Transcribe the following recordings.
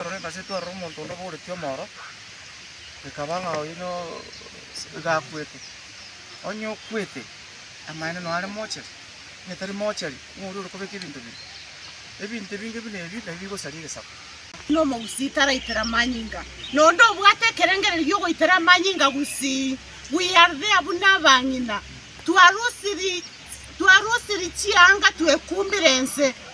Ekero eng'aso etwarire omonto onde obooreti omoro, ekaba ng'a oyio no iga akwete. Onye okwete, amaene noo are moocheri, onye tari moocheri, ng'a oria ore kobeka ebinto biria. Ebinto ebinge buna ebi nabio bigosaria egesaku. Buna omogusii taraitera amanyinga, noonde obwate ekerengererio gi'ogoitera amanyinga gusii. We are there buna abang'ina, twarusiri, twarusiri chianga twekumbire ense.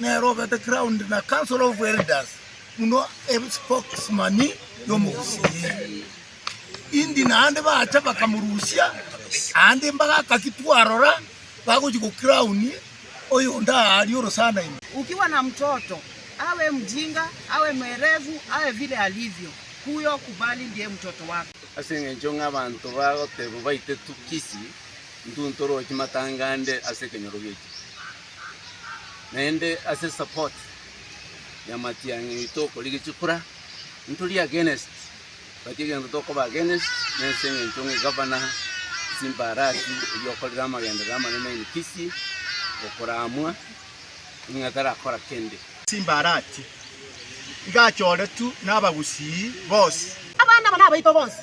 Nere obete crowned na council of elders buna ebe spokesman y'omogusi eye. Indi naende bacha bakamorusia, aande embaga akaki twarora bagochi go crown oyonde aa aria orosana ime. Ukiwa na mtoto, awe mjinga, awe mwerevu, awe vile alivyo, huyo kubali ndiye mtoto wako. Ase engencho ng'a abanto bagoteba baite tu kisi, intwe ntoroche matanga ande ase ekenyoro gi'echifu. naende ase support ya matiang'i aito okorigi chikura, ntori against but egento tokoba against nense engento ng'a egavana chimbarasi erio okorire amagenderero amanene in Kisii okoramwa ng'a tarakora kende. Chimbarati iga achoretu nabagusii bonsi. Abana aba nabaito bonsi.